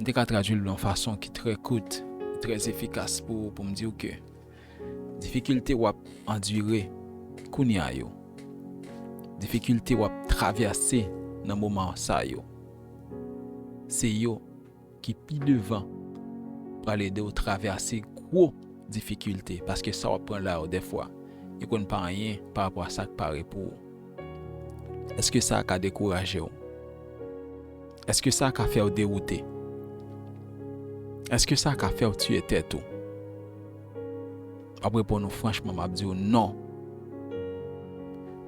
M te ka tradui l yon fason ki trè kout, trè efikas pou pou m di w ke difikilte w ap andire kounye a yo, difikilte w ap travèse nan moman sa yo, se yo ki pi devan pral ede w travèse gwo difikilte paske sa w ap pran la yo dèfwa li konn pa anyen parapò a sa k pare pou ou. Èske sa ka dekouraje w? Èske sa ka fè w dewoute? Èske sa ka fè w tiye tèt ou? W ap reponn ou franchman, m ap di w non!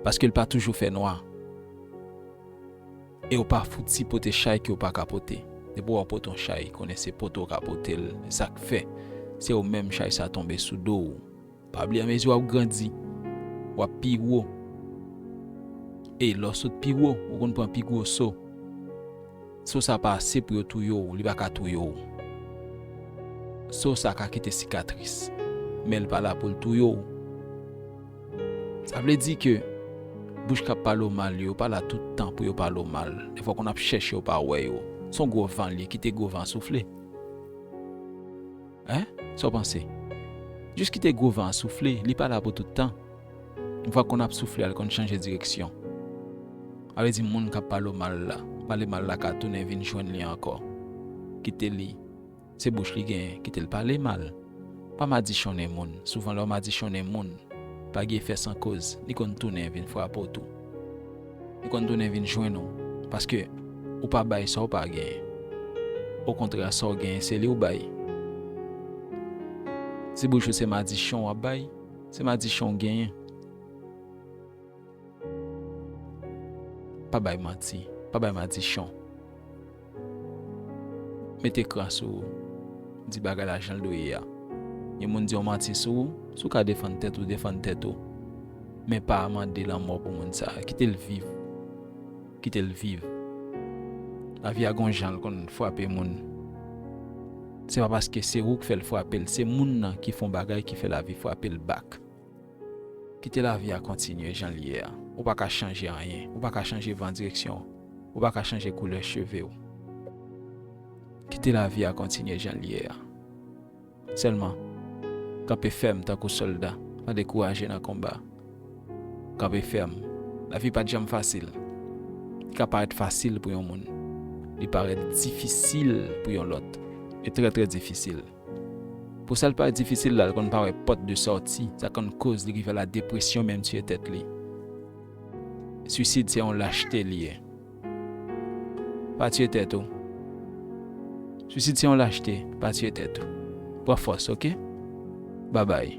Paske l pa toujou fè nwa, e w pa fouti pote chay ke w pa ka pote. Depi wè w pote yon chay, konnen se pote w ka pote l, e sa k fè se ou menm chay sa tonbe sou do w. Pa bliye amezi wap grandi wap pi wo e lè w sot pi wo ou konn pran pi gwo so. So sa pa ase pou yo touye w, li pa ka touye w. So sa ka kite sikatris men li pa la pou l touye w. Sa vle di ke bouch kap pale w mal yo pa la tout tan pou yo pale w mal. Defwa konn ap chèche w pa wè yo. Son gwo van l ye kite gwo van soufle. Hein? Sa w panse? Jis kite gwo van an soufle, li pa la pou tout tan. Vwa konn ap soufle a li konn chanje direksyon. A vle di moun kap pale w mal la, pale mal la ka tounen vin jwenn li ankò. Kite li, se bouch li genyen, kite l pale mal. Pa madichonnen moun, souvan lè w madichonnen moun, pa gen efè san koz, li konn tounen vin frape w tou. Li konn tounen vin jwenn ou paske ou pa bay sa w pa genyen. Okontrè sa w genyen se li w bay. Ti bouch ou se madichon w ap bay, se madichon w genyen. Pa bay manti, pa bay madichon. Met ekran sou ou. Di bagay la jan l dwe ye a. Yon moun di yon manti sou ou, si w ka defann tèt ou, defann tèt ou. Men pa mande lanmò pou moun sa a. Kite l viv. Kite l viv. Lavi a gen yon jan l konn frape moun. Se pa paske se ou k fè l frape l, se moun nan ki fè yon bagay ki fè lavi frape l bak. Kite lavi a kontinye jan l ye a. Ou pa ka chanje anyen. Ou pa ka chanje van direksyon. Ou pa ka chanje koulè cheve w. Kite lavi a kontinye jan l ye a. Sèlman, kanpe fèm tankou sòlda, pa dekouraje nan konba. Kanpe fèm. Lavi pa t janm fasil. Li ka parèt fasil pou yon moun. Li parèt difisil pou yon lòt. Li trè trè difisil. Pou sa l pa difisil la, l konn pa wè pòt de sòti, sa konn koz li rive ala depresyon menm tiye tèt li. Suisid se yon lachte li ye. Pa tiye tèt ou. Suisid se yon lachte, pa tiye tèt ou. Pran fòs ok. Babay.